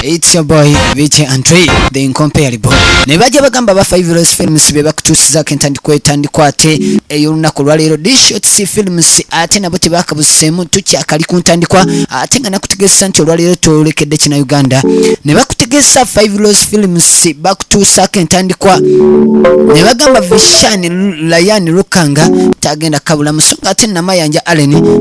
It's your boy Vici Andre the incomparable. Ne baje bagamba ba Five Rose Films be bakutusiza kentandikwa etandikwa ate ey'olunaku lwaleero Dishotsi Films ate nabo tebakabuseemu tukyakali ku ntandikwa ate nga nakutegeeza nti olwaleero twolekedde kina Uganda ne bakutegeeza Five Rose Films bakutuusaako entandikwa ne bagamba Vishan Layan Lukanga tagenda kabula musonga ate namayanja Allen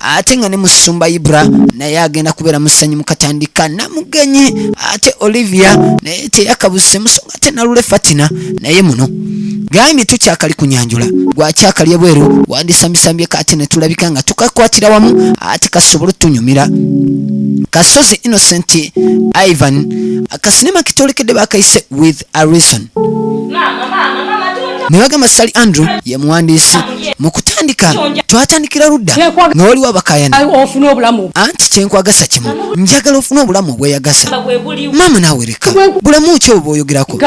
ate nga ne musumba ibra naye agenda kubeera musanyu mukatandika namugenyi ate olivia naye teyakabuse musonga ate nalule fatina naye muno gambye tukyakali kunyanjula gwakyakali ebweru wandisambisambye kati netulabika nga tukakwatira wamu ate kasobole tunyumira kasozi innocent ivan akasinema kitolekedde bakayise with arison ne bagamba sali andrew ye muwandiisi mu kutandika twatandikira ludda nga waliwo abakayana anti kyenkwagasa kimu njagala ofune obulamu obweyagasa maama naawe leka bulamu ki obwo bwoyogerako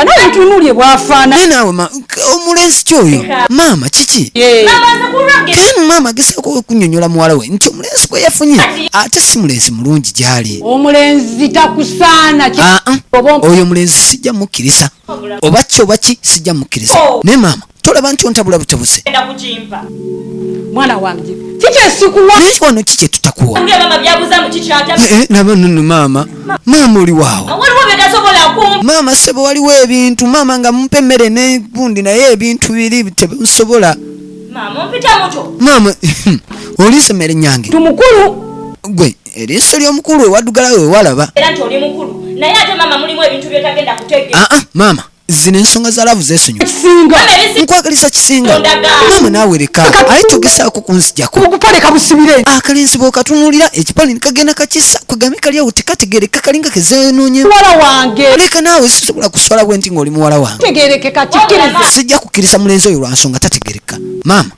naye naawe omulenzi kyoyo maama kiki kemu maama agesaako okunyonyola muwala we nti ensi bwe yafunye ate si mulenzi mulungi gyali omulenzi takusaana ah, ah. oyo omulenzi sijja mukkiriza oba ki oba ki sijja mukkiriza oh. naye maama tolaba nti ontabula butabuse mwana wange naye wano ki kyetutakuwa maama maama oli waawo maama sebo waliwo ebintu maama nga mumpa emmere negundi naye ebintu biri tebinsobola Maama ompita muto. Maama olise mere nyange. Tumukulu. Gwe eriso lyo mukulu ewadugala we walaba. Era nti oli mukulu. Naye ate maama mulimu ebintu byotagenda kutegera. Ah ah maama zino ensonga za laavu zeesonyo nkwagaliza kisinga maama naawe leka aye togesaako kunzijako akalenzi bwokatunuulira ekipale nikagenda kakisa kwegambe kaliawo tekategereka kalinga kezeenoonyeeka naawe sisobola kuswala bwenti ngaoli muwala wange sijja kukkiriza mulenzi oyo ansonga tategereka maama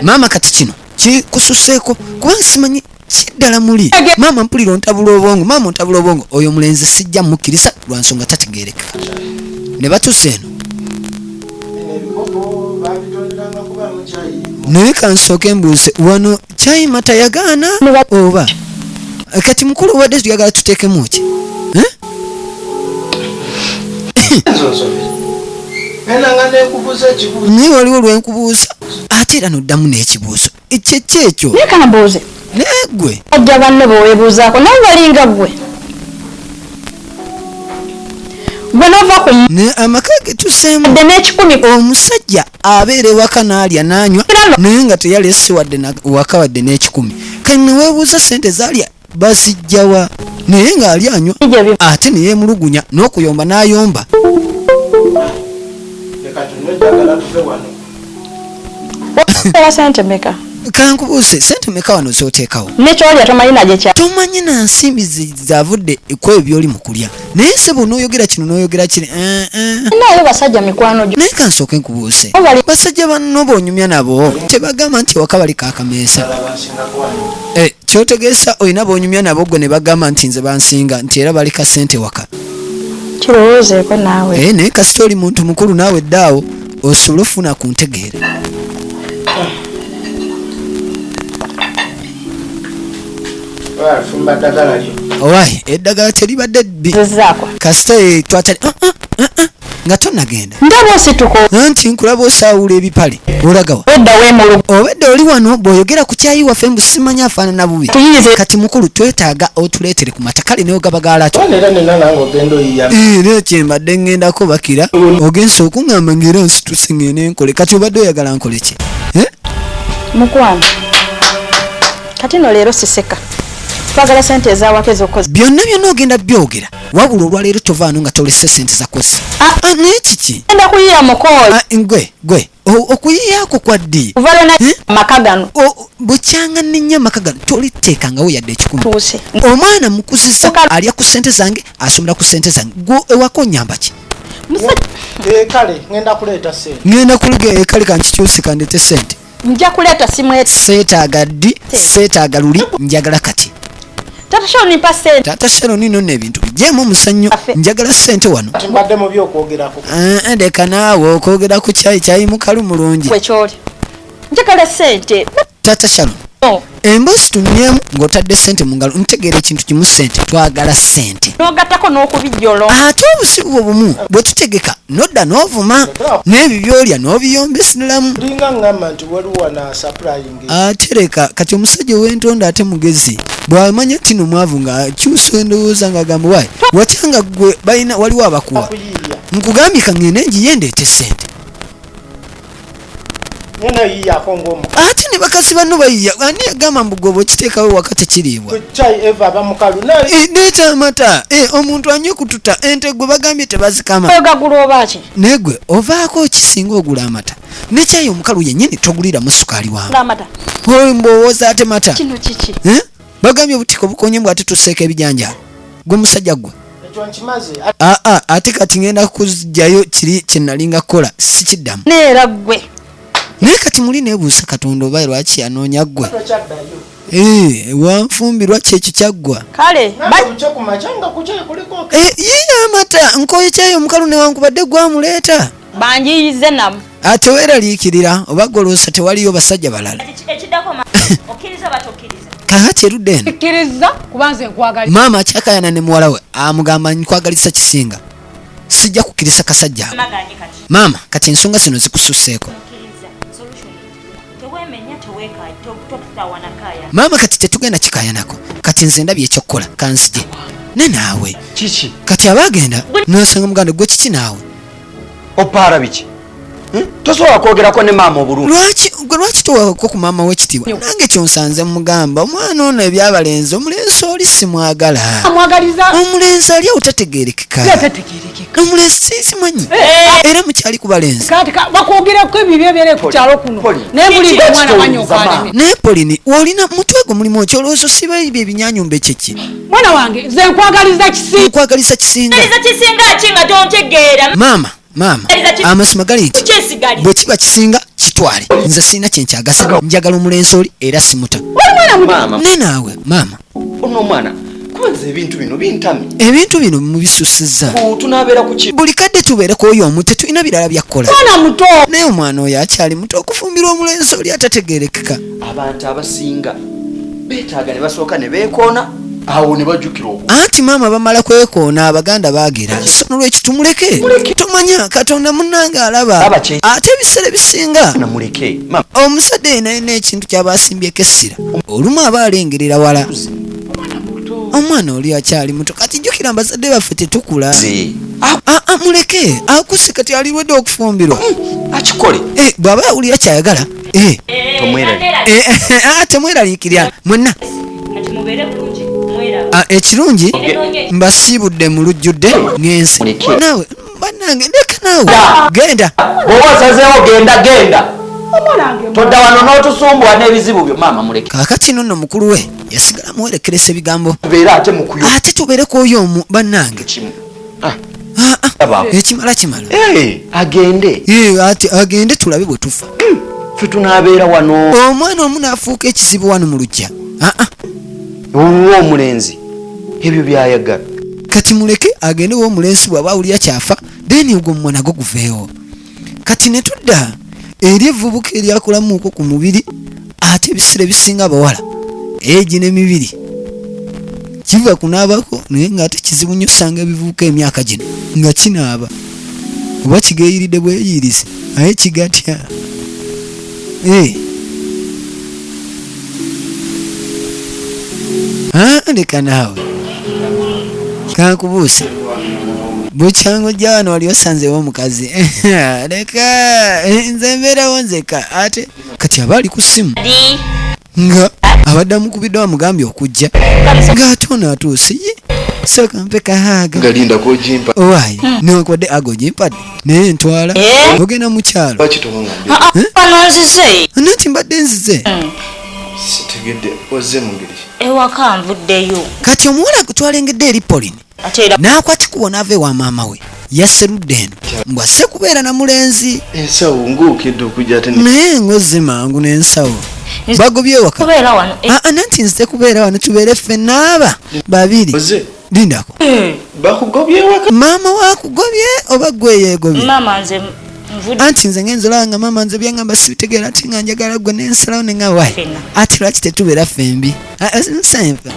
maama kati kino kikususeeko kuba nsimanyi kiddala muli maama mpulira ontabula obwongo maama ontabula obwongo oyo omulenzi sijja mukkiriza lwa nsonga tategereka ne batuuse eno naye kansooke mbuuze wano kyayima tayagaana oba kati mukulu obadde tuyagala tuteekemu ki naye waliwo lwenkubuuza ate era noddamu n'ekibuuzo ekyekyo ekyo nekambuuze naye gwe ajja banno bewebuuzaako naye walinga gwe gwe nova ku amaka getuseemu dde n'ekikumi omusajja abeera ewaka n'alya n'anywa naye nga teyalese wadde waka wadde n'ekikumi kani neweebuuza ssente zaalya bazijjawa naye ng'ali anywa ate ne yeemulugunya n'okuyomba n'ayomba kankubuuse sente meka wano zoteekawo tomanyi na nsimbi zavudde kwebyo byoli mu kulya naye ssebo onoyogera kino noyogera kiri eh, eh. naye basajja mikwano gyo naye kansooke nkubuuse basajja banno bonyumya nabo tebagamba nti ewaka bali kakameesa eh, kyotegeesa olina bonyumya nabo gwe ne bagamba nti nze bansinga nti era bali kasente waka kirowoozeeko naawe naye kasita oli muntu mukulu naawe ddaawo osobola ofuna ku ntegeere owaye eddagala teribadde bbi kasita eh, twatali ah, ah, ah, nga tonagenda ndaba osituka anti nkulaba osaawula ebipale olagawa obedda oli wano bw'oyogera ku kyayi waffe mbu simanya afaanana bubi kati mukulu twetaaga otuleetere ku mata kale newe gaba gaalaki era kyembadde ŋŋendako bakira ogensa okuŋŋamba ngaera nsituse ŋŋende nkole kati obadde oyagala nkoleki eh? mukwano kati no leero siseka twagala sente ezawaka ezokoze byonna byonna ogenda byogera wabula olwaleero tovaano nga tolese sente zakoze ah. ah, naye kiki enda kuyiya mukooli ah, gwe gwe okuyiyaako kwaddi amaka gano bukyanga nenya amaka gano toliteekangawo yadde ekikumi omwana mukuziza alya ku sente zange asomera ku sente zange gwe ewako onyamba ki ngenda kuleeta sente ngenda kulega ekale kankikyuse kandete sente nja kuleeta simweta seetaaga ddi seetaaga luli njagala kati tata shoni mpa sente tata shoni no ne bintu bijemu musanyo njagala sente wano timbadde mu byo kwogera ko eh, eh de kanawo kwogera ku chai chai mukalu mulungi kwe chori njagala sente tata shoni no emboozi tunyemu ng'otadde sente mu ngalo ntegeera ekintu kimu sente twagala sente nogattako n'okubijolo ate obusibu bwo bumu bwe tutegeka nodda n'ovuma n'ebyo byolya n'obiyomba esinulamu ndinga ngamba nti waliwo nasapulayingi atereka ah, kati omusajja ow'entonda ate mugezi bwamanya nti no mwavu ng'akyusa endowooza ng'agamba wayi watyanga gwe balina waliwo abakuwa nkugambye ka ngende ngiye ndeete sente ate ne bakasi banno bayiya ani yagamba mbu gwe bwekiteekawo waka tekiriibwa eh, nekyamata eh, omuntu anywe kututa ente gwe bagambye tebazikama naye gwe ovaako okisinga ogula amata nekyayi omukalu yenyini toguliramu sukaali wawe mbowoza ate mata eh? bagambye obutiko bukonye mbw ate tuseeko ebijanjalo gwe musajja gwe aa ah, ah, ate kati ngenda kuzjayo kiri kyenalinga kukola sikiddamu neera gwe naye kati muli nebuusa katonda oba lwaki yanoonya gwe eh, wanfumbi lwaki ekyo kyaggwa eh, yiye amata nkoye kyayo omukalu newankubadde gwamuleeta banjiyize namu ate weraliikirira oba goloosa tewaliyo basajja balala kakati erudde eno maama akyakayana ne muwala we amugamba nkwagalisa kisinga sijja kukkiriza kasajja maama kati ensonga zino zikususeeko maama kati tetugenda kikayanako kati nze ndabye ekyokukola kanzije ne naawe kati aba agenda nosanga muganda gwe kiki naawe opaara biki hmm? tosobola kwogerako ne maama obulunigwe lwaki towako ku maama wekitiibwa nange kyonsanze mugamba omwana ono ebyabalenzi omulenzi oli simwagala omulenzi ali awo tategerekeka omulenzi sinsimanyi eh. era mukyali ku balenzi naye polini wolina mutwe gwo mulimu okyolowooza osiba ebyo ebinyanyumba ekyeki mwana wange nze nkwagaliza kisinga nkwagaliza kisinga kisinga ki nga tontegeera maama maama amazima gali nti bwe kiba kisinga kitwale nze sirina kye nkyagasa njagala omulenzi oli era simuta ne naawe maama ono omwana kwanza ebintu bino bintamye ebintu bino mubisusizza tunabeera kuki buli kadde tubeereko oyo omu tetulina birala byakkola mwana muto naye omwana oyo akyali muto okufumbirwa omulenzi oli atategerekeka abantu abasinga betaaga ne basooka ne beekoona awo ne bajjukira oku anti maama bamala kwekoona abaganda baagera nolwekyo tumuleke tomanya katonda munange alaba ate ebiseera ebisinga omuzadde yenayina ekintu kyaba asimbyeko essira olumu aba alengerera wala omwana oli akyali muto kati jjukira mbazadde baffe tetukula muleke akusi kati alirwedde okufumbirwa hmm, akikole eh, bw'aba yawulira kyayagala Eh. Ah, temweraliikirya mwenna ah, ekirungi mbasiibudde mu lujjudde ngenze naawe banange leka naawe genda oba osazeewo genda genda todda wano n'otusumbuwa n'ebizibu byo maama muleke kakati no nno mukulu we yasigala muwerekeresa ebigambo ate tubeere ku oyo omu bannange ah. Ah, ekimala kimala eh, agende eh, ati agende tulabe bwe tufa hmm, fe tunabeera wano omwana omu naafuuka ekizibu wano mu lujja ah, wuwa omulenzi ebyo byayagala kati muleke agende wa omulenzi bwaba awulira kyafa then ogwo mumwana gwo guveewo kati ne tudda eri evvubuka eryakulamuuko ku mubiri ate ebisira ebisinga abawala egi n'emibiri kiva kunaabako naye ng'ate kizibu nnyo osanga ebivubuka emyaka gino nga kinaaba oba kigeeyiridde bweyiirize naye kigatya Eh. Ah, leka naawe kankubuuse bukyanga ojja wano wali osanzewo omukazi leka eh, nze mbeerawo nzeka ate kati aba ali ku ssimu Di. nga abadde amukubiddwa amugambye okujja ng'ate ono atuuse ye sooka mpe kahaaga wayi hmm. newankubadde aga ogimpade naye ntwala eh? ogenda mu kyalo ah, ah, eh? nanti mbadde nzize hmm. kati omuwala gwe twalengedde eri polini n'akwatikuwa n'ava ewa maama we yaserudde eno mbu asse kubeera na mulenzi ensawo ngaokedde okujja te naye ngozze mangu n'ensawo bagobyewaka eh. ah, ah, nanti nze kubeera wano tubeere ffe naaba babiri lindako eh. maama wakugobye oba gweyeegobye anti nze ngenza olaba nga maama nze byangamba sibitegeera ati nga njagala gwe nensalawo ne nga wayi ati lwaki tetubeera ffembi ah, eh, nsenva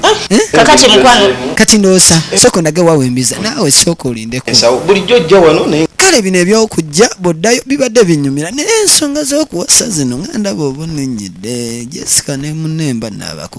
ah, eh? kakati mukwano kati ndoosa sooka ondage wawembiza naawe sooka olindeko bulijjo ojja wano naye kale bino ebyokujja boddayo bibadde binyumira naye ensonga z'okuwasa zino nga ndaba obunenyedde jessica ne munemba naabako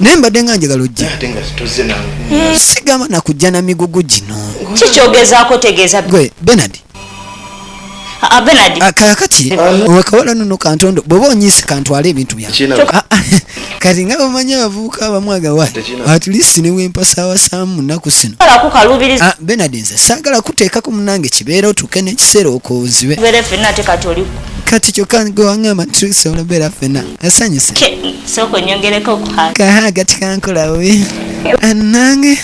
naye mbadde nga njagala ojja hmm. sigamba nakujja na migugu gino kikyogezaako tegeeza gwe benard ah, benard ah, kakati wekawala nuno kantondo bweba onyise kantwala ebintu byange ah, kati nga bamanyi abavubuka abamu agawa atlist newempasaawasamu naku sino benard nze saagala kuteekako munange kibeera otuuke nekiseera okozibe kati kyokka gwe wangamba nti tusobola obeera fena asanyuse sooka onyongereko kaha gati kankola bubi nange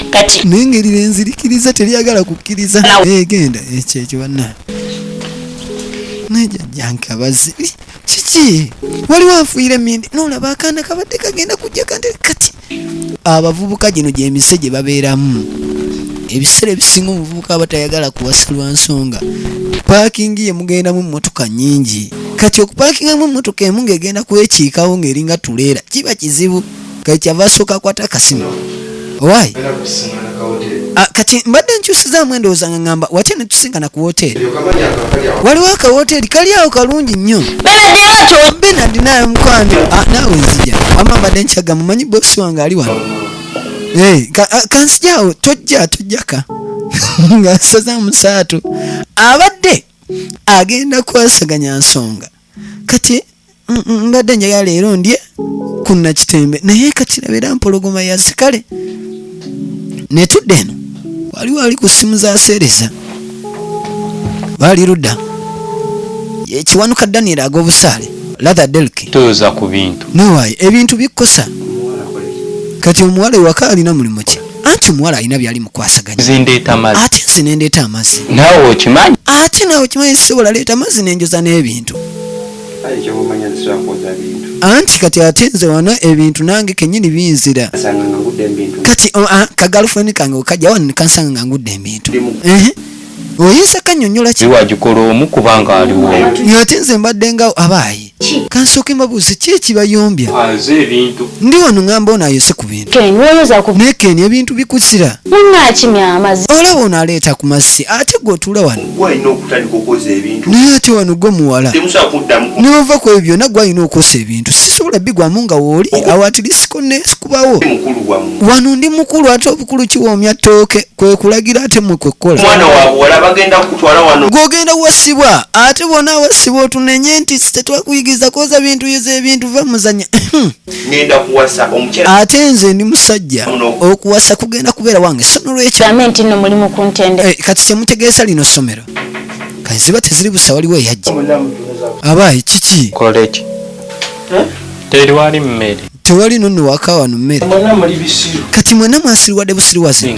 kati nengeri lenzirikiriza teryagala kukkiriza egenda eh, ekyo ekyo banna nejajjankabazi kiki waliwo afuire mindi nolaba akaana kabadde kagenda kujja kante kati abavubuka gino gyemise gye babeeramu ebiseera ebisinga omuvubuka aba tayagala kuwasa lwa nsonga paakingi ye mugendamu emmotoka nyingi kati okupaakingamu emmotoka emu ng'egenda kwekiikawo ng'eringa tuleera kiba kizibu kati kyava asooka akwata akasimu owaayi Ah, kati mbadde nkyusizaamu endowooza nga ngamba watya ne tusinkana ku wooteeri waliwo akawooteeri kali awo kalungi nnyo benadi naye mukwano ah, naawe nzija wama mbadde nkyaga mumanyi boosi wange ali wano eh, ah, kansijawo tojja tojjaka nga nsaza musaatu abadde agenda kwasaganya nsonga kati mm, mm, mbadde njagala leero ndye ku nakitembe naye kati labera mpologoma yazikale netudde eno waliwo ali ku simu zaseereza baali ludda ekiwanuka daniel ag'obusaale latha delk toyoza ku bintu nawaye ebintu bikkosa kati omuwala ewaka alina mulimu ki anti omuwala alina byali mukwasaganya ate nze nendeeta amazzi ate nawe okimanyi sisobola leeta amazzi nenjoza n'ebintu anti kati ate nze wano ebintu nange kenyini binzira kati kagalufeni kange okajja wano nekansanga nga ngudde ebintu oyinza kanyonyola kiwagikola omu kubanga aliwo ate nze mbadde nga abaayi kansooke mbabuuze ki ekibayombya ndi wano ngamba ono ayose ku bintu naye keni ebintu bikusira olaba ono aleeta ku mazzi ate gwe otuula wano naye ate wano gwe muwala nova ku ebyo byonna gwe alina okosa ebintu sisobola bigwamu nga wooli awatirisiko nekubawo wano ndi mukulu ate obukulu kiwoomya ttooke kwekulagira ate mwe kwekkola mwana wabuwala bagenda kukutwala wano gwogenda wasibwa ate bona wasibwa otunenye nti tetwakuyigiriza koza bintu yoza ebintu va muzanya ngenda kuwasa omukyala ate nze ndi musajja okuwasa kugenda kubeera wange so nolwekyo ame nti no mulimu ku ntende eh, kati kyemutegeesa lino somero kaziba teziri busa waliwo eyajja abaye kiki koleki Teriwali mmere. Tewali nonno waka wano mmere. Mwena muli bisiru. Kati mwena mwasiriwadde busiriwaze.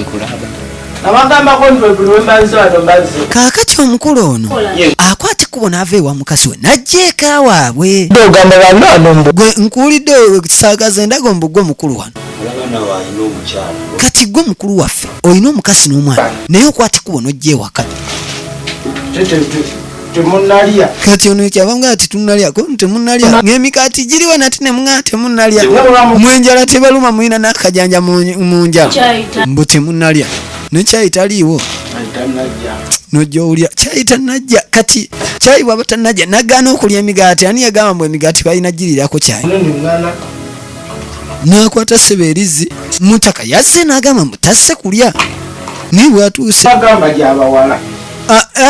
Abagambako nti buli wembanze wano mbanze. Kaakati omukulu ono akwata ekkubo n'ava ewa mukazi we n'ajja eka waabwe. Ogamba banno ano mbu. Gwe nkuwulidde saagaza endaga ombu gwe mukulu wano. Kati gwe mukulu waffe olina omukazi n'omwana naye okwata ekkubo n'ojja ewaka. temunalya kati ono ekyava nga ati tunalya ko temunalya ng'emikaati giriwa nati ne mwa temunalya mwenjala tebaluma mulina n'akajanja mu njala mbu temunalya nekyayi taliiwo nojja owulira kyayi tanajja kati kyayi bwaba tanajja nagaana okulya emigaati ani yagamba mbu emigaati balina girirako kyayi nakwata seba erizzi mutaka yazze nagamba mbu tasse kulya naye bwatuuse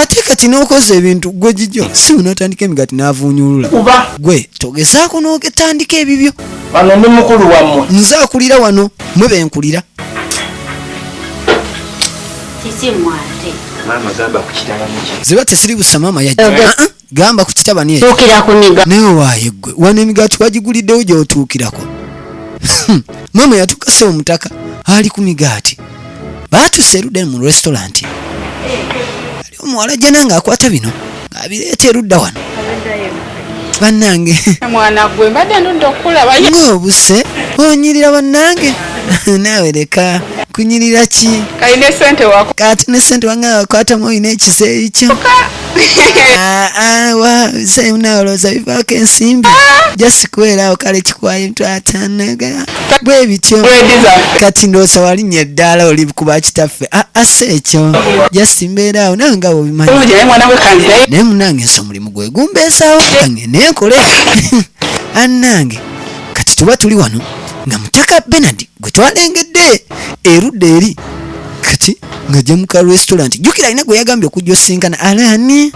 ate kati nokoza ebintu gwe jijjo si unatandika emigati navunyulula gwe togezaako notandika ebibyo wano ndi mukulu wamwe nze akulira wano mwe benkulira ziba tesiri busa maama yajja gamba ku kitabani ekyo naye owaaye ggwe wano emigaati wagiguliddewo gy'otuukirako hmm. maama yatukasa omutaka ali ku migaati baatuse erudda mu restauranti ali omuwala jana ng'akwata bino ng'abireeta erudda wano bannange ng'obuse onyirira bannange naawe leka kunyirira ki kati ne sente wange wakwatamu olina ekiseeyi kyo Ah, ah, wa mzee unaoloza bivako ensimbi just kuwerawo kale kikwayo mtu atanaga bwe bityo kati ndoosa walinnya eddaala oli kuba kitaffe ah, asa ekyo just mbeeraawo nawe nga wobimanyi naye munange nsi omulimu gwe gumbeesaawo kange nenkole anange kati tuba tuli wano nga mutaka benard gwe twalengedde erudda eri kati ng'ajja mu ka restaurant jjukira alina gwe yagambye okujja osinkana alaani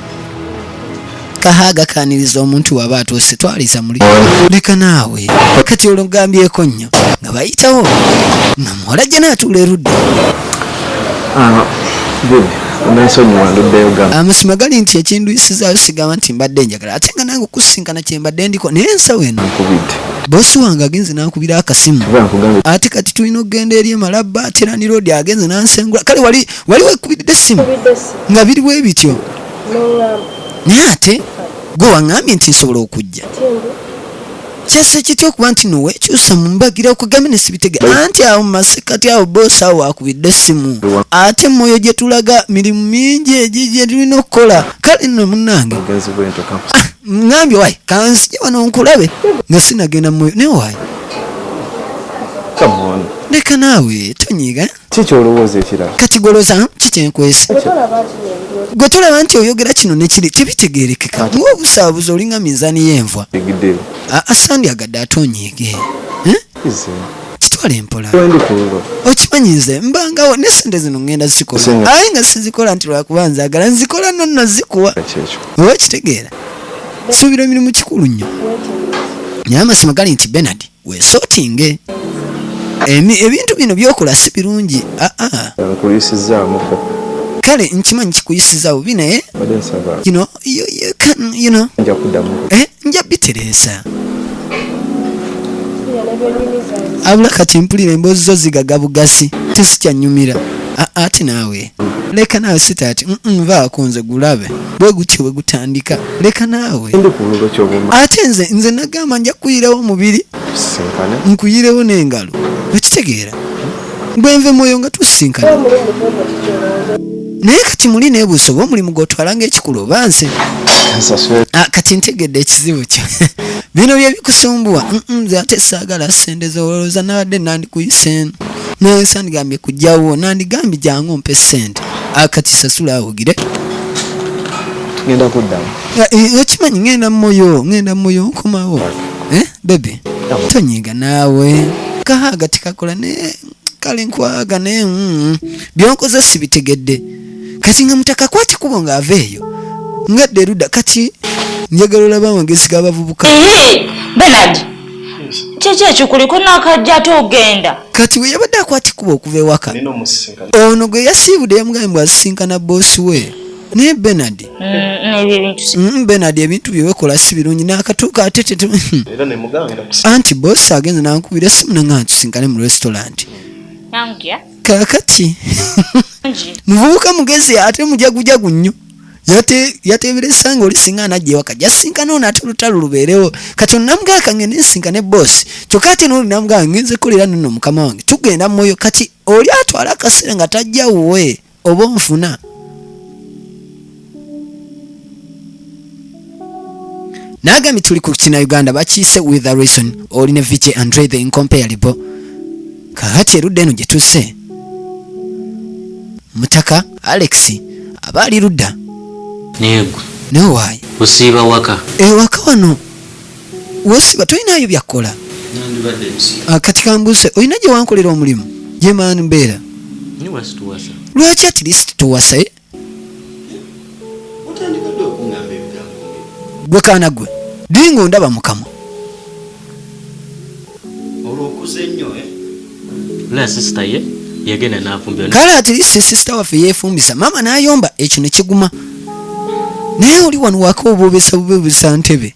kahaaga kaaniriza omuntu waba atuuse twaliza muli leka naawe kati olwo gambyeko nnyo nga bayitawo nga muwala jja naatuula erudda ah, amasima gali nti ekindwisizaayo sigamba nti mbadde nja ddala ate nga nange okusisinkana kyembadde ndiko naye ensawo eno bosi wange agenze nankubira akasimu ate kati tulina okugenda eri emalabba ate landiroodi agenze nansengula kale wali wali wekubiridde essimu nga biri bwe bityo naye ate gwe waŋŋambye nti nsobola okujja kyasa kitya okuba nti nowe kyusa mu mbagira okugambe ne sibitega anti awo mu masekati awo boosi awo wakubidde essimu ate mwoyo gye tulaga mirimu mingi egyo gye tulina okukola kale nno munnange ah, ŋambye wayi kanzije wano nkulabe nga sinagenda mu mwoyo naye wayi leka naawe tonyiiga Ki ky'olowooza ekirala? Takigoloza, kikyenkwese. Gwe tolaba nti oyogera kino ne kiri tebitegeerekeka ng'obusaabuzi olinga minzaani y'envwa. Aa sandyagadde ate onyiige. Kitwale mpola. Okimanyi nze mbangawo ne ssente zino ŋŋenda zikola aye nga sizikola nti lwakuba nzaagala nzikola no nno zikuwa oba okitegeera. Suubira emirimu kikulu nnyo naye amazima gali nti Bernard wesotinge ebintu bino byokola si birungi ah, ah. kale nkimanyi kikuyisiza bubi naye eh, nja bitereeza abula kati mpulira emboozi zo zigaga bugazi tesikyanyumira ah, ati naawe leka naawe sitaati nvaako nze gulabe bwe gutyo bwe gutandika leka naawe ate nze nze nagamba nja kukuyirewo omubiri nkuyirewo n'engalo okitegeera gwe nve mwoyo nga tusisinkana naye kati muli nebuusa oba omulimu gwotwala ngaekikulu oba nze ah, kati ntegedde ekizibu kyo bino byebikusumbuwa nze ate saagala sente zowolooza nabadde nandikuyisa eno naye sandigambye kujjawo nandigambye jangu ompe sente akati sasula awugire ngenda kuddamu okimanyi ngenda mumoyo ngenda mumoyo nkomawo eh, bebe tonyiga naawe kahaaga tikakola naye kale nkwaga naye mm, byonkoze sibitegedde kati nga mutaka kwata kubo ng'ava eyo ngadde eruda kati njagala olaba amagezi g'abavubuka eh, kyeki ekikuliko nakajja ate ogenda kati bwe yabadde akwata ekkuba okuva ewaka ono gwe yasiibudde yamugambe mbw asisinkana boosi we naye benard mm, mm, benard ebintu byewekola si birungi nakatuuka ate hmm. anti boosi agenze nankubira esimu nanga ntusinkane mu restaurant kakati muvubuka mugezi ate mujagujagu nnyo yate yateberesa nga oli singa anajja ewaka jasinkana ono ate olutalo lubeerewo kati onamugamba kange nensinka ne boss kyokka ate noli namugamba ngenze kolera nono mukama wange tugenda mwoyo kati oli atwala akaseera nga tajja wuwe oba onfuna nagambye tuli ku kina uganda bakiise with a reason oli ne vj andre the incomparable kakati erudda eno gyetuse mutaka alex aba ali ludda negwe newaayi usiiba waka ewaka eh, wano wosiba tolinayo byakkola ah, kati kambuuse olina gye wankolera omulimu gyemaani mbeera lwaki at least tuwasa eh? gwe kaana gwe dinga ondaba mukama kale ati si sisita waffe yefumbisa maama nayomba ekyo nekiguma naye oli wano waka obobesa bubebesa ntebe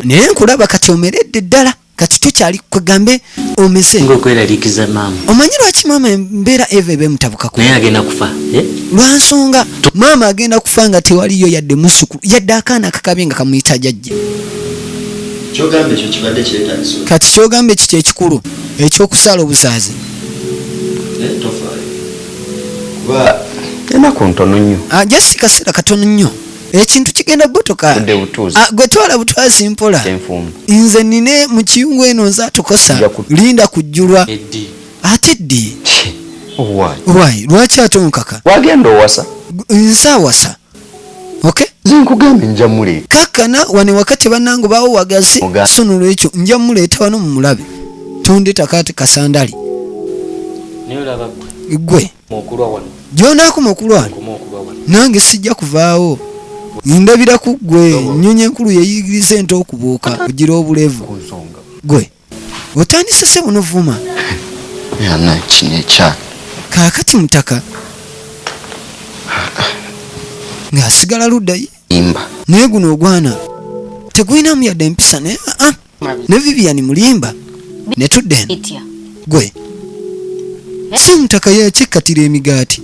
naye nkulaba kati omeredde ddala kati tokyali kwegambe omeze ngokweraliikiza maama omanyi lwaki maama embeera eva eba emutabukako naye agenda kufa eh? lwansonga maama agenda kufa nga tewaliyo yadde musukulu yadde akaana akakabye nga kamuyita jajja kati kyogamba ekikyo ekikulu ekyokusaala obuzaazi enaku ntono nnyo ah, just kaseera katono nnyo ekintu kigenda kugotoka ah, gwe twala butwazi mpola nze nine mu kiyungu eno nze atukosa linda kujjulwa ate ddi owaayi lwaki ate onkaka wagenda owasa nze awasa okay zinkugambye nja muleeta kakkana wane wakati bannange baawo wagazi so nolwekyo nja muleeta wano mu mulabe tondetaka ati kasandali gwe gyonaakoma okulwana nange sijja kuvaawo ndabira ku ggwe nnyonyi enkulu yeyigiriza ente okubuuka ogira obulevu gwe otandise se bunovuma kaakati mutaka ng'asigala luddayi naye guno ogwana tegulinamu yadde empisa naye aa ah, ah. ne vivian mulimba ne tudden Bitya. gwe si omutaka yakikkatira emigaati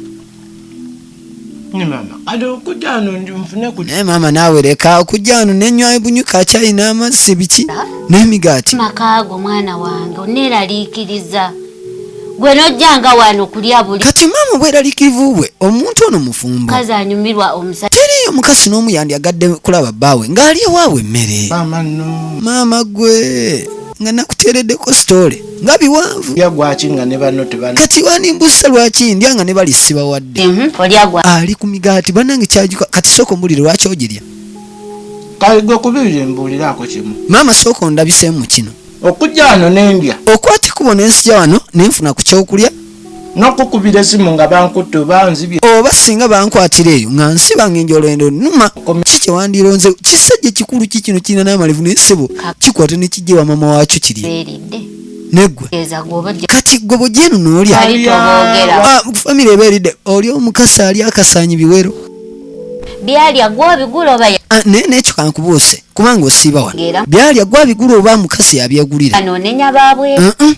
ne mama kati okujja ano ndi nfune ku naye maama naawe leka okujja ano nenywayo bunywi ka kyayi n'amazzi biki n'emigaati Makaago mwana wange oneeraliikiriza. gwe nojjanga wano kulya buli kati maama bweralikivu bwe omuntu ono mufumbo kazi anyumirwa omusajja teriyo mukasi n'omu yandyagadde kulaba bbaawe ng'ali ewaabwe emmere maama no maama gwe nga nakuteereddeko sitole nga biwanvu yagwaki nga ne banno tebana kati wanimbusa lwaki ndya nga ne bali sibawadde mhm, ali ku migaati banange kyajuka kati sooka ombulire lwaki ogirya kale gwe kubibiri mbuuliraako kimu maama sooka ondabisemu kino okujja wano nendya okwata ekkubo nensija wano nenfuna ku kyokulya nokukubira esimu nga bankutte oba nzibye oba singa bankwatira eyo nga nsiba nga enjolendo numa ki kyewandironze kisajja ekikulu ki kino kirina namalevu naye sebo kikwata nekijja wa mama wakyo kiri negwe kati gwe bujenu nolya ah, famire eba eridde oli omukasi ali akasanyi biwero byalya gwobigula oba ah, naye nekyo kankubuuse kubanga osiiba wano byalya gwe abigula oba mukazi yabyegulira anonenya babwe uh -uh.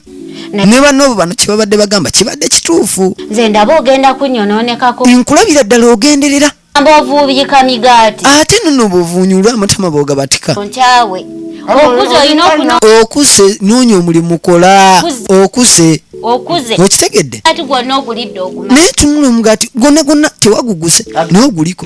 ne banoobo bano kyebabadde bagamba kibadde kituufu nze ndaba ogenda kunyononekako nkulabira ddala ogenderera mbovuubika migaati ate nono obuvuunyulwa amatama bogabatika nkyawe okuze olina okuno okuze noonya omulimu kola okuze okuze okitegedde ati gwonna ogulidde oguma naye tunula omugaati gwonna gwonna tewaguguze naye oguliko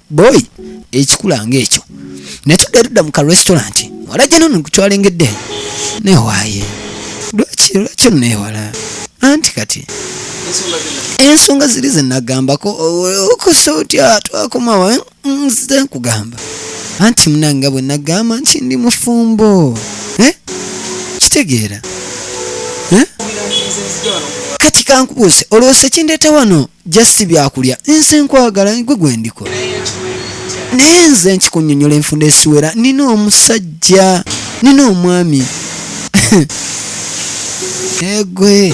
boy ekikula nga ekyo naye tudde tudda mu ka restaurant wala gye nono kutwalengedde newaaye lwaki lwaki onneewala anti kati ensonga ziri zenagambako okosa otya twakomawa nze nkugamba anti munanga bwe nagamba nti ndi mufumbo eh? kitegeera eh? kati kankubuuse olwoosa ekindeeta wano just byakulya nze nkwagala gwe gwendikola naye nze nkikunyonyola enfunda esiwera nina omusajja nina omwami egwe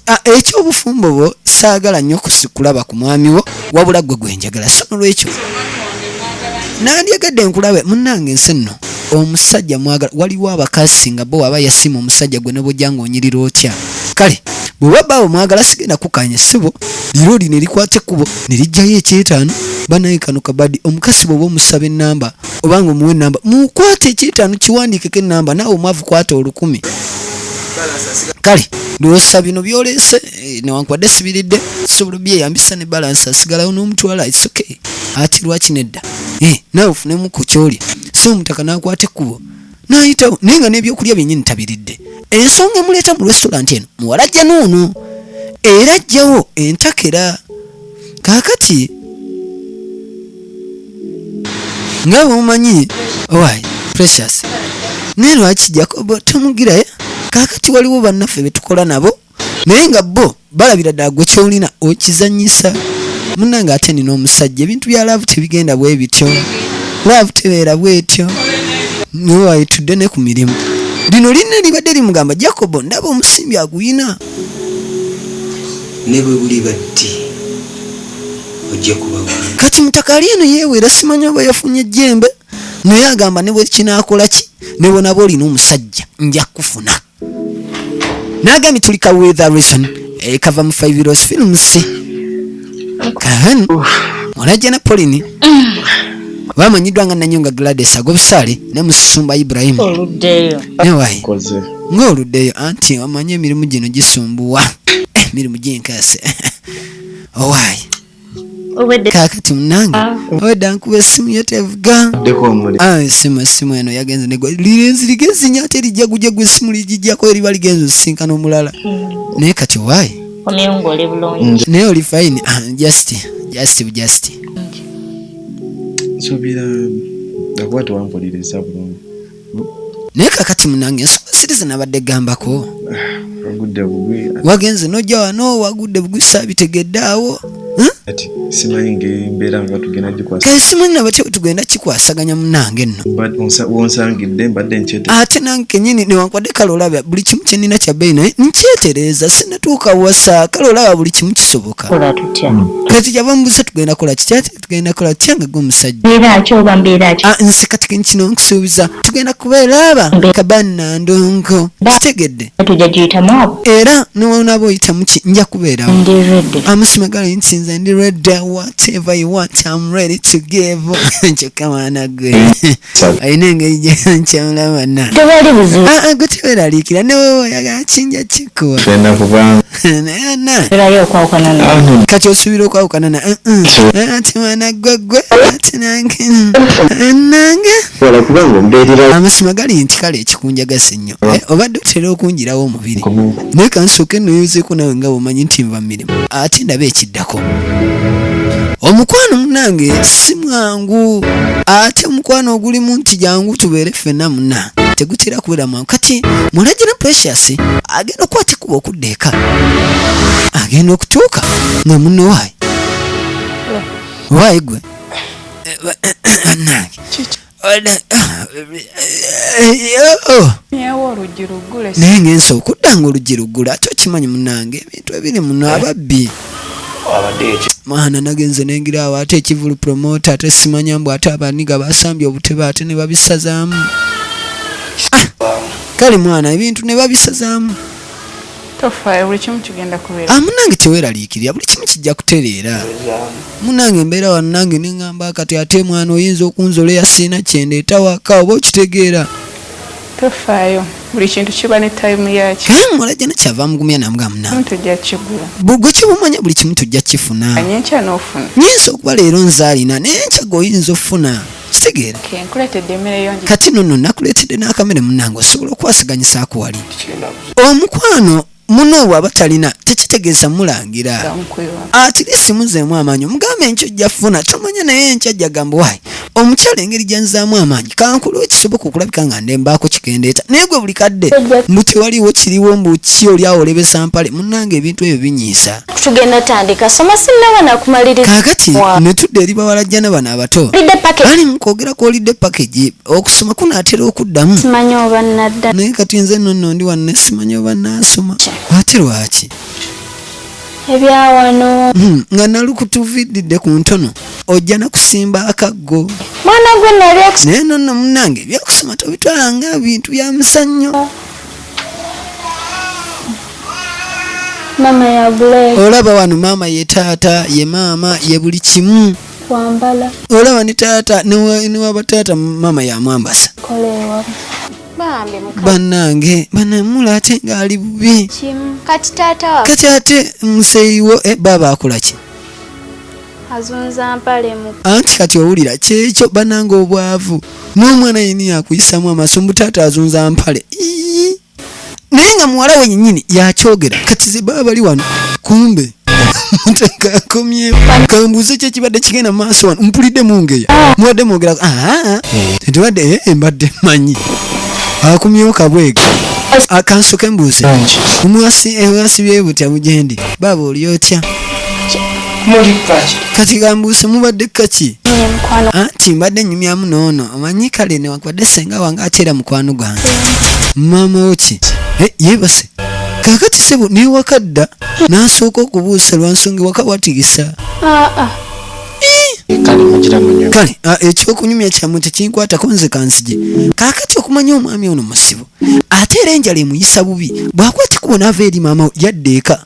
ah, ekyobufumbo bwo saagala nnyo kusikulaba ku mwami wo wabula gwe gwenjagala so nolwekyo nandyagadde nkulabe munange ensi nno omusajja mwagala waliwo abakazi nga bo aba yasima omusajja gwe nobojja nga onyirira otya kale bwewabaawo mwagala sigenda kukanya sibo liro lino erikwata ekkubo ne lijjayo ekyetaano banaye kano kabadi omukasi bwoba omusaba enamba obanga omuwa enamba mukwata ekyetaano kiwandiikeko enamba naawe omwavu kwata olukumi kale ndowoosa bino byolese eh, newankubadde sibiridde sobola byeyambisa ne balance asigalawo n'omutwala it's okay ati lwaki nedda eh, nawe ofunemu ku kyolya so omutaka nakwata ekkubo nayitawo naye nga n'ebyokulya byenyini tabiridde ensonga emuleeta mu restaurant eno muwala ajja noono era ajjawo entakera kaakati nga bwemumanyi owaayi precious naye lwaki jakobo tomugirayo kaakati waliwo bannaffe betukola nabo naye nga bo balabira ddala gwe kyolina okizanyisa munange ate nina omusajja ebintu bya laavu tebigenda bwe bityo laavu tebeera bwetyo niwayitudde ne ku mirimu lino lina libadde limugamba jacobo ndaba omusimbi aguyina ne bwe buli batti ojja kuba kati mutakaali eno yeewera simanyi oba yafunye ejjembe naye agamba ne bwekinakola ki ne bwonaba olina omusajja nja kufuna nagambye tuli ka with a reason eh, kava mu five years films kahan olajja na polini bamanyiddwa nga nanyonga gladys agobusaale ne musumba ibrahim newayi ng'oluddeyo anti omanyi emirimu gino gisumbuwa emirimu gyenkase owaye kakati munange ah. obadde ankuba essimu yo tevuga ah, essimu essimu eno yagenze negwa lirenzi ligenzi nyo ate lijja gujja gwe essimu ligijjako eriba ligenze osisinkana omulala hmm. naye kati wayi naye oli fine ah, just just just nsubira akuba tewampuliriza bulungi naye kakati munange ensonga siri zinabadde gambako wagenze nojja wano wagudde bugwi sabitegedde awo kale simanyi nabatya bwetugenda kikwasaganya munange nno ate nange kenyini newankwadde kale olaba buli kimu kyenina kyabeyi naye nkyetereeza sinatuuka wasa kale olaba buli kimu kisoboka kati kyava mubusa tugenda kola kikyati tugenda kola tutya nga gwomusajja ah, nze kati kino nkusuubiza tugenda kubeera aba kabanna ndongo kitegedde era newonaba oyitamuki nja kubeerawo amusima gali nti nze ndi redda whatever you want am ready to give kyokka mwana gwe alina engeri gyankyamula bana ah, ah, gwe teweraliikira newewe oyagala kinja kikuwa kati osubira okwawukana na eh, eh. ati mwana gwegwe ati nange nange amazima gali nti kale ekikunjagasa ennyo eh, obadde otera okunjirawo omubiri naye kansooke noyozeeko nawe nga bwomanyi nti nva mu mirimu ate ndaba ekiddako omukwano munange si mwangu ate omukwano ogulimu nti jangu tubeere ffena muna tegutera kubeera kati mulagira precious agenda okuba kikuba okudda eka agenda okutuuka nga munno waayi waayi gwe bannange naye ngensa okudda nga oluggi luggula ate okimanyi munange ebintu ebiri muno ababbi mwana nagenze nengira awo ate ekivulu promota ate simanya mbu ate abaniga basambye obutebe ate ne babisazaamu ah, kale mwana ebintu ne babisazaamu ah, munange teweraliikirira buli kimu kijja kutereera munange embeera wano nange neŋamba kati ate mwana oyinza okunzola eyasiina kyendeetawaka oba okitegeera Tofaayo buli kintu kiba ne time yakyo. Naye muwala jana kyava amugumya namugamba munange. Tujja kigula. Bugwe kibumanya buli kimu tujja kifuna. Anye nkya n'ofuna. Nyinza okuba leero nze alina naye nkya goyinza ofuna. Kitegeera. Okay, nkuleetedde emmere yongi. Kati nono nakuleetedde n'akamere munange osobola okwasaganyisa ako wali. Omukwano muno bwaba talina tekitegeeza mulangira atirisi muzeemu amaanyi omugambe enkyo ojja funa tomanya naye enkya jagamba wayi omukyala engeri gyanzaamu amaanyi kankulu ekisoboka okulabika nga ndembaako kikendeeta naye gwe buli kadde mbu tewaliwo kiriwo mbu ki oli awo olebesa mpale munange ebintu ebyo binyiisa tugenda tandika soma sinaba nakumaliriza kakati netudde eri bawalajjana bano abato ali mukwogera kwolidde package okusoma kunaatera okuddamu simanyi oba nadda naye kati nze nno nno ndi wanne simanyi oba naasoma ate lwaki ebyawano hmm, nga nalukutuviddidde ku ntono ojja nakusimba akaggo mwana gwe nali naye nonno munange ebyokusoma tobitwala nga bintu bya musannyo olaba wano maama ye taata ye maama ye buli kimu kwambala olaba ni taata niwaba taata maama yamwambasa banange banamula ate ngaali bubi kati ate museyiwo eh, baaba akolaki anti kati owulira kyekyo banange obwavu n'omwana yini yakuyisamu amaso mbu taata azunza mpale naye nga muwala we nyinyini yakyogera kati zebaba bali wano kumbe kakomyewo kambuuze ki ekibadde kigenda maaso wano mpulidde mungeya mubadde mwogera tebadde ah, ah, ah. eh, mbadde manyi akumyewo kabwega akansoke mbuuze omwasi ewasibye eh, butya mugendi baaba oli otya kati kambuuse mubadde kaki anti mbadde nyumyamu noono omanyi kale newankubadde senga wange ate era mukwano gwange maama woki eh, yebase kakati sebo newakadda nasooka okubuusa lwansonga ewaka watigisa ah, ah. kale ah, ekyokunyumya kyamwe tekinkwatako nze kanzije kakati okumanya omwami ono musibo ate era enjala emuyisa bubi bwakuba kikubo naava eri maama yadda eka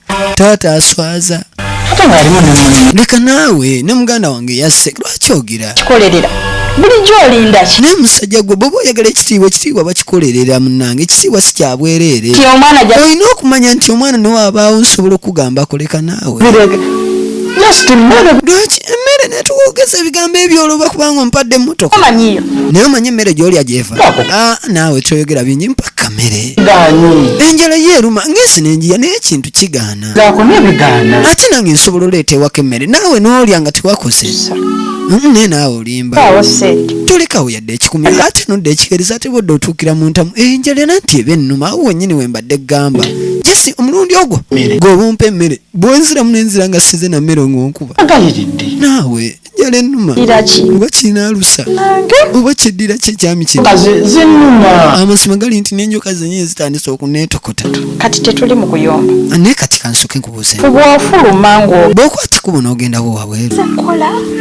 taata aswaza ate ng'alimu ne munne leka naawe ne muganda wange yasse lwaki ogira kikolerera bulijjo olinda ki naye musajja gwe bwoba oyagala ekitiibwa ekitiibwa bakikolerera munange ekitiibwa si kyabwereere nti omwana ja olina okumanya nti omwana newabaawo nsobola okugamba akoleka naawe bireke just mmere lwaki emmere netuwogeza ebigambo ebyo olwoba kubanga ompadde emmotoka omanyiyo naye omanyi emmere gyolya gyeva Bako. Ah, naawe kyoyogera bingi mpa kamere enjala ye eruma ng'ensi n'enjiya naye ekintu kigaana ate nange nsobola oleeta ewako emmere naawe n'olya nga tewakoze mm, naye naawe olimba tolekawo yadde ekikumi ate nodda ekikereza ate bodde otuukira mu ntamu enjala era nti eba ennuma awo wennyini we mbadde gamba jesi omulundi ogwo gw'obumpa emmere bwenziramu nenzira nga size na mmere ng'onkuba naawe enjala ennuma oba kirina alusa oba kiddira ki ekyami kino amazima gali nti n'enjoka zenyewe zitandise okuneetokota kati tetuli mu kuyomba naye kati kansoke nkubuuze bwofuluma ngo bwokuba kikubo n'ogendawo wabweru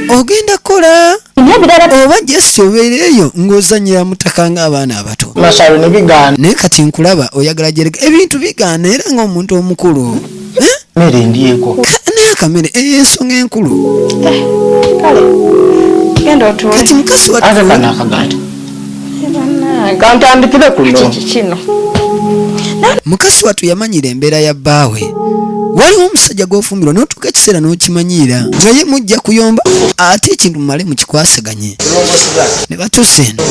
ogenda kukola oba jesi obeera eyo ng'ozanyira mutaka ng'abaana abato naye kati nkulaba oyagala jereka ebintu bigaana era ng'omuntu omukulu mere endyeko naye akamere eyo eh, ensonga enkulu eh, kale genda otuule kati mukazi wa ate kana akaganda kantandikire kuno kino mukazi watu yamanyira embeera ya bbaawe waliwo omusajja gwofumbirwa notuuka ekiseera n'okimanyiira nga ye mujja kuyomba ate ekintu mumale mukikwasaganye ne batuusa eno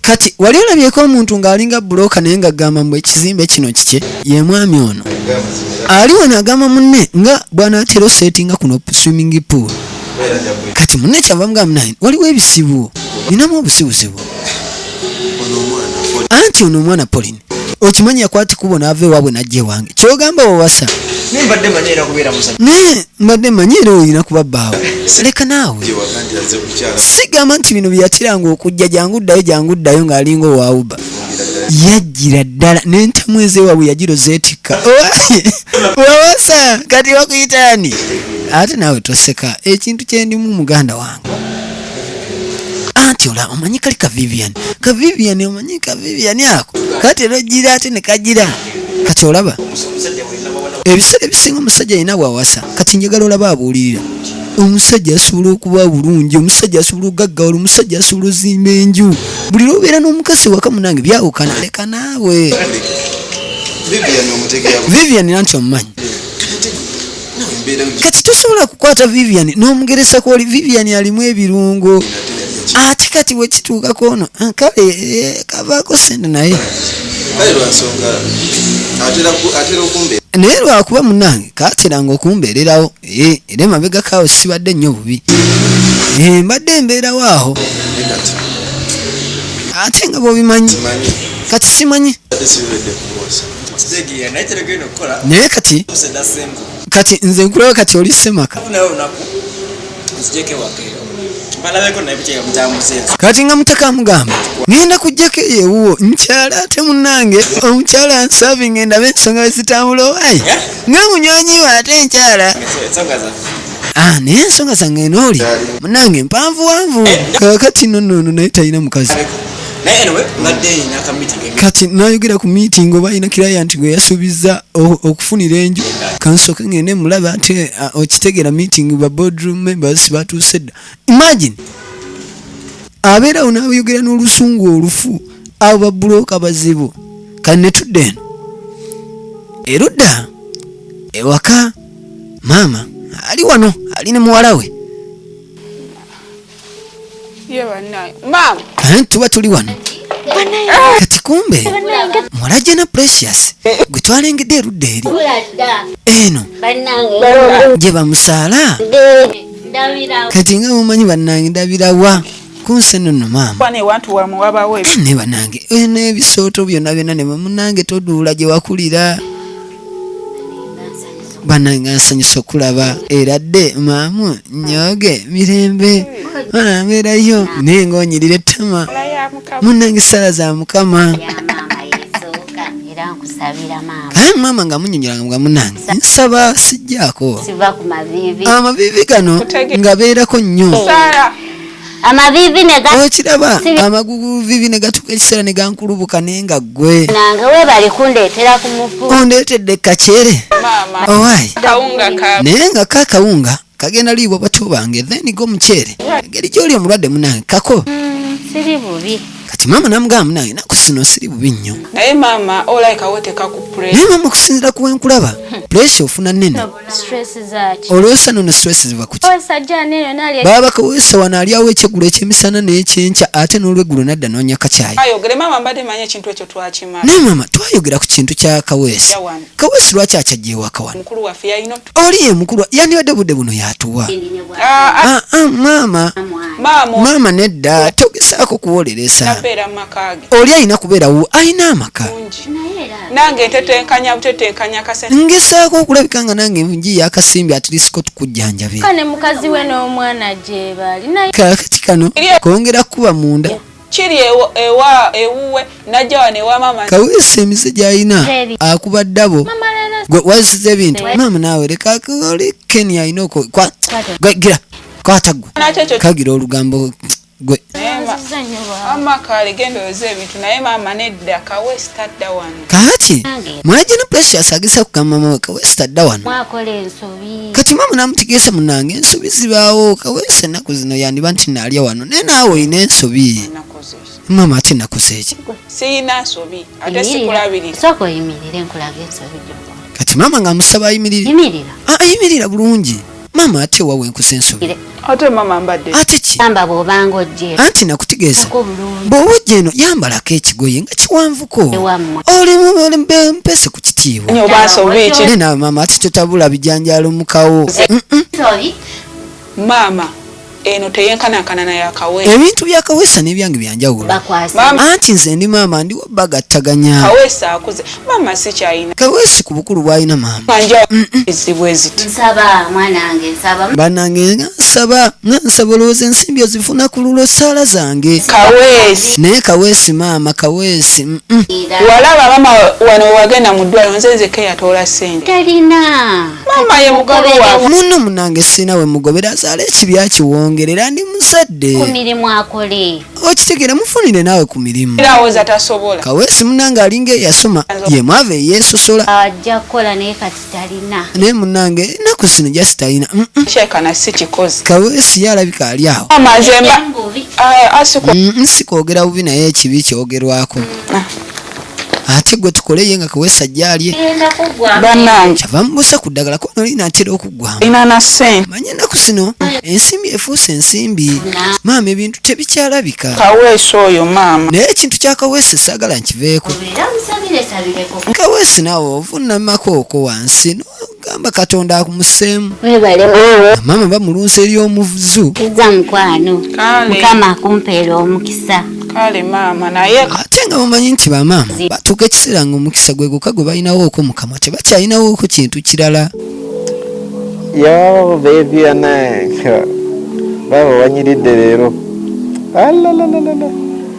kati wali olabyeko omuntu ng'alinga bulooka naye nga gamba mbu ekizimbe kino kikye ye mwami ono ali wano agamba munne nga bwanaatera osetinga kuno swimming pool kati munne kyava mugamba naye waliwo ebizibu ninamu obuzibuzibu anti ono omwana polin okimanyi yakwata ekubo n'ava ewaabwe n'ajja ewange kyogamba wawasa naye mbadde manyi era kubeera musajja naye mbadde manyi era olina kuba bbaawo leka naawe sigamba nti bino byeyakiranga okujja jangu ddayo jangu ddayo ng'alinga owawuba yajjira ddala n'entamu ezewaabwe yajiro zeetikka wawasa kati wakuyitaani ate naawe toseka ekintu kyendimu muganda wange anti olaba omanyi kali ka vivian ka vivian omanyi ka vivian ako kati era ojjira ate ne kajira kati olaba ebiseera ebisinga omusajja yina bwawasa kati njagala olaba abuulirira omusajja asobola okuba bulungi omusajja asobola okugaggawala omusajja asobola ozimba enju buli lwobeera n'omukazi waka munange byawukana leka naawe vivian nanti omumanyi kati tosobola kukwata vivian n'omugeresa kwoli vivian alimu ebirungo ate kati wekituukako ono ah, kale eh, kavaako sente naye naye lwakuba munange kateranga okumbeererawo eh, era emabega kaawo sibadde nnyo bubi eh, mbadde mbeerawo awo ate nga bwobimanyi kati simanyi naye kati kati nze nkulaba kati oli semaka kati nga mutaka amugamba ngenda kujjako eyo ewuwo nkyala ate munange omukyala nsavi ngenda be ensonga wezitambula owaye nga munywanyi we ate nkyala ah, naye ensonga zange nooli munange mpanvuwanvu eh, kakati nonono naye talina mukazi kati nayogera ku meeting oba alina client gwe yasuubiza okufunira enju kansooke ngende mulaba ati eh, ah, okitegera meeting ba boardroom members batuuse dda imagine abeerawo nayogera n'olusungu olufu abo babuloka bazibu kati netudda eno erudda ewaka maama ali wano ali ne muwala we Eh, tuba tuli wano kati kumbe mulajja na precious gwe twalengedde erudda eri eno gye bamusaala kati nga mumanyi bannange ndabirawa kunsi eno no maama ne banange ebisooto byonna byonna ne bamunange toduula gye wakulira banange nsanyusa okulaba era dde maamu nyoge mirembe onambeerayo naye nga onyirira ettama munange sala za mukama aye maama nga munyonyolanga nga munange nsaba sijjaako amaviivi gano nga beerako nnyo amavivi ne ga okiraba amaguguvivi ne gatuuka ekiseera ne gankulubuka naye nga ggwe nange weebale kundeetera ku mufu ondeetedde kakyere owaayi naye nga ka kawunga kagenda liibwa bato bange then go mukyere engeri gy'oli omulwadde munange kako hmm, siri bubi kati maama namugamba munange naku sino siri bubi nnyo naye maama okusinzira ku wenkulaba hmm. puresha ofuna nene olwesa nono stress ziva kuki baba bakawesa wano ali awo ekyegulo ekyemisana nekyenkya ate nolwegulo nadda nonya kakyayi naye mama twayogera ku kintu kya kawesi kawesi lwaki akyajewaka wano oli ye mukulu yandibadde budde buno yatuwa ah, ah. Ah, maama maama nedda togesaako kuwoleresa oli alina kubeerawo alina amaka nange ntetenkanya butetenkanya kasente ngesaako okulabika nga nange njiya akasimbi atirisiko tukujjanjabe kane mukazi we n'omwana gyebali kakati kano kongera kukuba munda kiri ewa ewuwe najja wano ewa mama kaweesa emize gyalina akuba ddabo waziza ebintu maama naawe leka oli keni alina okwagira kwata gwe kagira olugambo gwe kaki mwajina precious agisa kugamba mama kawesi adda wano kati mama namutegeesa munange ensobi zibaawo kawesi ennaku zino yandiba nti naalya wano naye naawe olina ensobi mama ati nakoze eki kati mama nga musaba ayimirira ayimirira ah, bulungi maama ate wa wenkuza ensobi ate maama mbadde ate ki yamba bw'obanga ojje anti nakutegeeza bw'oba ojja eno yambalako ekigoye nga kiwanvuko oli mpese ku kitiibwa naye nawe maama ate totabula bijanjaalo mukawo maama eno teyenkanakana na yakawe ebintu bya kawesa nebyange byanjawulo anti nze ndi maama ndiwo bagattaganya kawesa akuze maama sikyayina kawesi ku bukulu bwalina maama ezibu eziti nsaba mwanange nsaba banange nga nsaba nga nsaba olowooza ensimbi ozifuna ku lulo saala zange kawesi naye kawesi maama kawesi walaba maama wano wagenda mu ddwaliro nze nzekeyatoola sente talina maama ye mukulu wange munno munange sirina we mugobera azaala ekibya kiwongere era ndi muzadde ku mirimu akole okitegera mufunire naawe ku mirimu awoza tasobola kaweesi munange alinga eyasoma ye mwava eyeesosola ajja kukola naye kati talina naye munange ennaku zino jasi talina kyekana si kikozi kaweesi ye alabika ali awo amazemba ah, ah, mm, nsikwogera bubi naye ekibi kyogerwako ah. ate gwe tukole ye nga kewesa gyalye kyava mubusa ku ddagala kubano linaatera okuggwamanyi ennaku zino ensimbi efuuse ensimbi maama ebintu tebikyalabika kaweesi oyo maama naye ekintu kya kaweesi saagala nkiveeko kaweesi naawe ovunamako oko wansi gamba katonda akumuseemu maama bamulunsa eri omuzu za mukwano mukama akumpeera omukisa kale maama naye ate nga mumanyi nti bamaama batuuka ekiseera nga omukisa gwe gwokka gwe balinawooko mukamwa tebakyalinawooko kintu kirala yo bebi ananka baba wanyiridde leero alalalala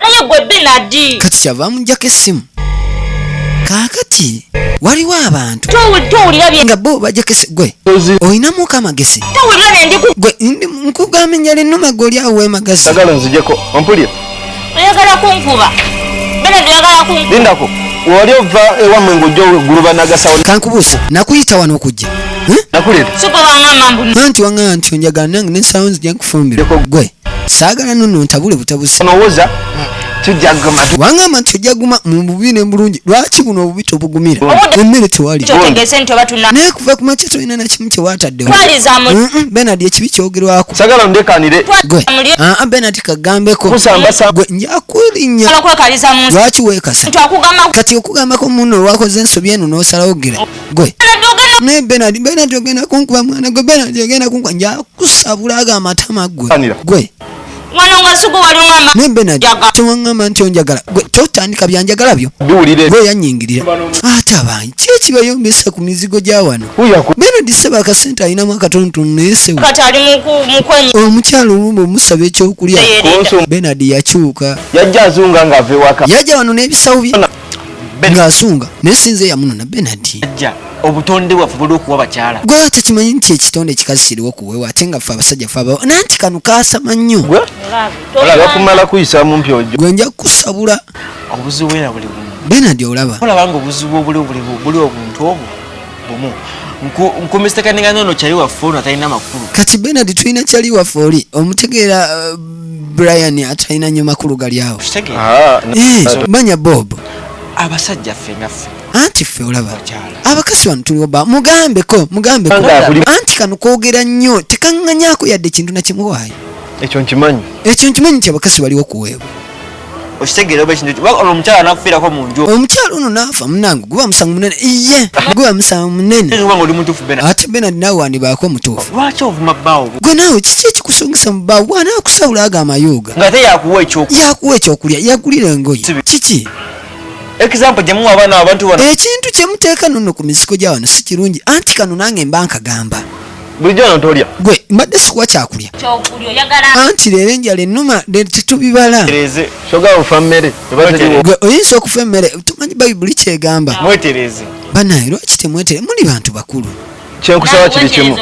naye gwe benadi kati kyava amujjako essimu kaakati waliwo abantu nga bo bajakese gwe olinamuko amagezi gwe nkugamba enjala ennuma gwe oli awo wemagazi agala nzijeko ompulira oyagala kunkuba benadi oyagala kunkuba lindako wali ova ewamwe ngojja oguluba nagasawo kankubuusa nakuyita wano okujja nakuleta anti wangamba nti onjagala nange nensawo nzija nkufumbira gwe saagala nono ntabule butabuzi onowoza tujaguma wangamba nti tujaguma mu bubi ne mulungi lwaki buno obubi tobugumira emmere tewali naye kuva ku makya tolina nakimu kyewataddewo benard ekibi kyogerwako sagala ndekanire gwe aa benard kagambeko gwe njakulinya lwaki wekasa kati okugambako muno olwakoze ensobi eno n'osalawo gira gwe naye benard benard ogenda kunkuba mwana gwe benard ogenda kunkuba njaku kusabula aga amatama gwe gwe wano nga sugu waliwo ama ne benard tewangamba nti onjagala gwe totandika byanjagala byo biwulire gwe yanyingirira ate abanyi kiki kibayombesa ku mizigo gya wano benard seba akasente alinamu akatonotono naye sewe omukyalo olumu omusaba ekyokulya benard yakyuka yajja azunga nga ave waka yajja wano n'ebisawo bye ng'asunga naye sinze yamunona benard obutonde bwaffe buli okuwa bakyala gwe tekimanyi nti ekitonde ekikazi kiriwo kuwewa ate nga ffe abasajja fe abawo nanti kano kaasama nnyo bakumala kuyisa mumpi ojo gwe nja kukusabula obuzibu era buli bumu benard olaba olaba nga obuzibu obuli obuli obuntu obwo bumu nkumisiteka ninga nono kyali waffe ono atalina makulu kati benard tulina kyali waffe oli omutegeera uh, brian atalina nyo makulu gali awo ah, eh, manya bob abasajja ffe nga ffe anti ffe olaba abakazi bano tuliwo ba mugambeko mugambeko anti kano kwogera nnyo tekanganyako yadde ekintu nakimuwaayo ekyo nkimanyi ekyo nkimanyi nti abakazi baliwo kuweebwa okitegeera oba ekintu olwo omukyala nakufiirako mu nju omukyala ono naafa munange guba musango munene iye guba musango munene oli mutuufu bena ate bena naawe wandibaako omutuufu lwaki ovuma bbaawo gwe naawe kiki ekikusungisa mu bbaawo bwana akusawula ago amayuuga nga te yakuwa ekyokulya yakuwa ekyokulya yagulira engoye kiki example gye muwa abaana abantu bona ekintu kye muteeka nonno ku mizigo gya wano si kirungi anti kano nange mba nkagamba bulijjo wano tolya gwe mbadde sikuwa kyakulya anti leero enjala ennuma tetubibala gwe oyinza okufa emmere tumanyi bayibuli kyegamba banaye lwaki temwetere muli bantu bakulu kyenkusaba kiri kimu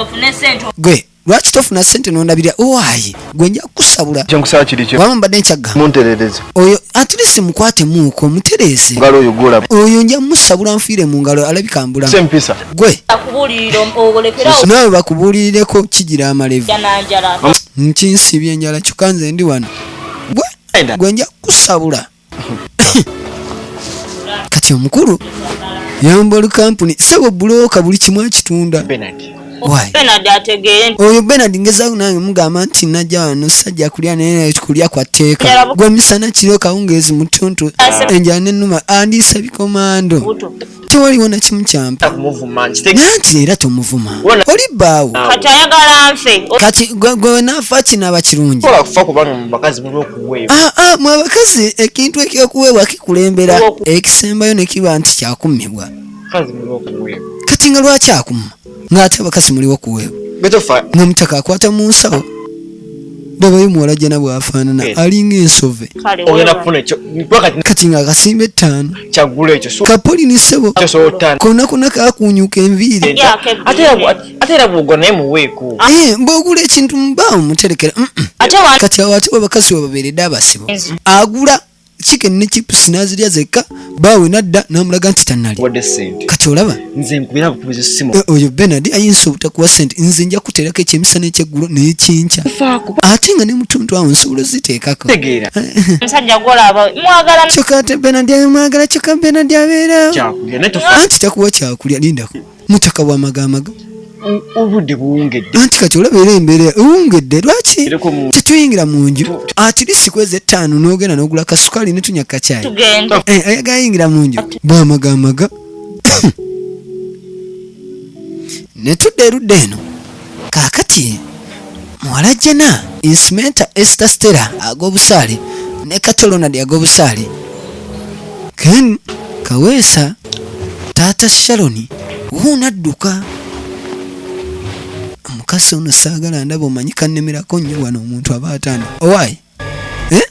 gwe lwaki tofuna sente nondabirira owaye oh, gwe nja kukusabula kyenkusaba kiri kyo waba mbadde nkyagga munterereze oyo atlisi mukwate muuko mutereeze ngalo oyo gola oyo nja musabula nfiire mu ngalo alabika mbula sempisa gwe nawe bakubuulireko kigira amalevu nkinsibye enjala kyokka nze ndi wano gwe gwe nja kukusabula kati omukulu yamba olukampuni sebo buloka buli kimu akitunda oyo benard ngezaku nange mugamba nti najja wano sajja kulya naye kulya kwa tteeka gwe misana kiro kawungeezi mutuntu enjala nenuma andiisa bikomando tewaliwo nakimu kyampa nanti era tomuvuma oli bbaawo kati gwenafa kinaba kirungi mwe abakazi ekintu ekyokuweebwa kikulembera ekisembayo nekiba nti kyakummibwa kati nga lwaki akumma ng'ate abakazi muliwo kuweebu nga mutaka akwata mu nsawo ndabayo muwala jana bwafaanana eh. alinga ensove kati nga akasimba ettaano kapoli ni ssebo konna konna kakuunyuka enviiri eh, mbwogula ekintu mubaawo muterekera kati awo ate bwe bakazi webabeeredde abasibo agula chicken ne chips nazirya zekka baawe nadda n'amulaga nti tannali kati olaba eh, oyo benard ayinza obutakuwa sente nze nja kuteerako ekyemisana ekyeggulo n'ekinkya ate nga ne mutuntu awo nsobola oziteekako kyokka ate benard mwagala kyokka benard abeera anti takuwa kyakulya lindako mutaka wa magamaga obudde buwungedde anti kati olaba era embeera ewungedde lwaki tetuyingira mu nju atirisi kwezi ettaano n'ogenda n'ogula kasukaali netunya kakyayi eh, ayagayingira mu nju bwamagamaga netudda erudda eno Kaakati muwala Jena insimenta Esther Stella ag'obusaale ne Kato Ronald ag'obusaale Ken Kaweesa taata Sharon wuuno adduka omukazi ono saagala ndaba omanyi kannemerako nnyo wano omuntu aba atanda owaayi Eh?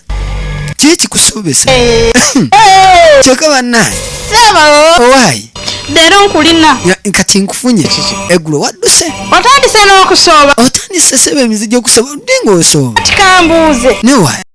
kiki kikusuubisa Eh, eh, kyokka bannaye Ssebo, owaayi leero nkulina. Ya- kati nkufunye Kiki? eggulo wadduse Otandise n'okusooba. otandise sebo emizi gy'okusaba odde ng'osooba Kati kambuuze. newaayi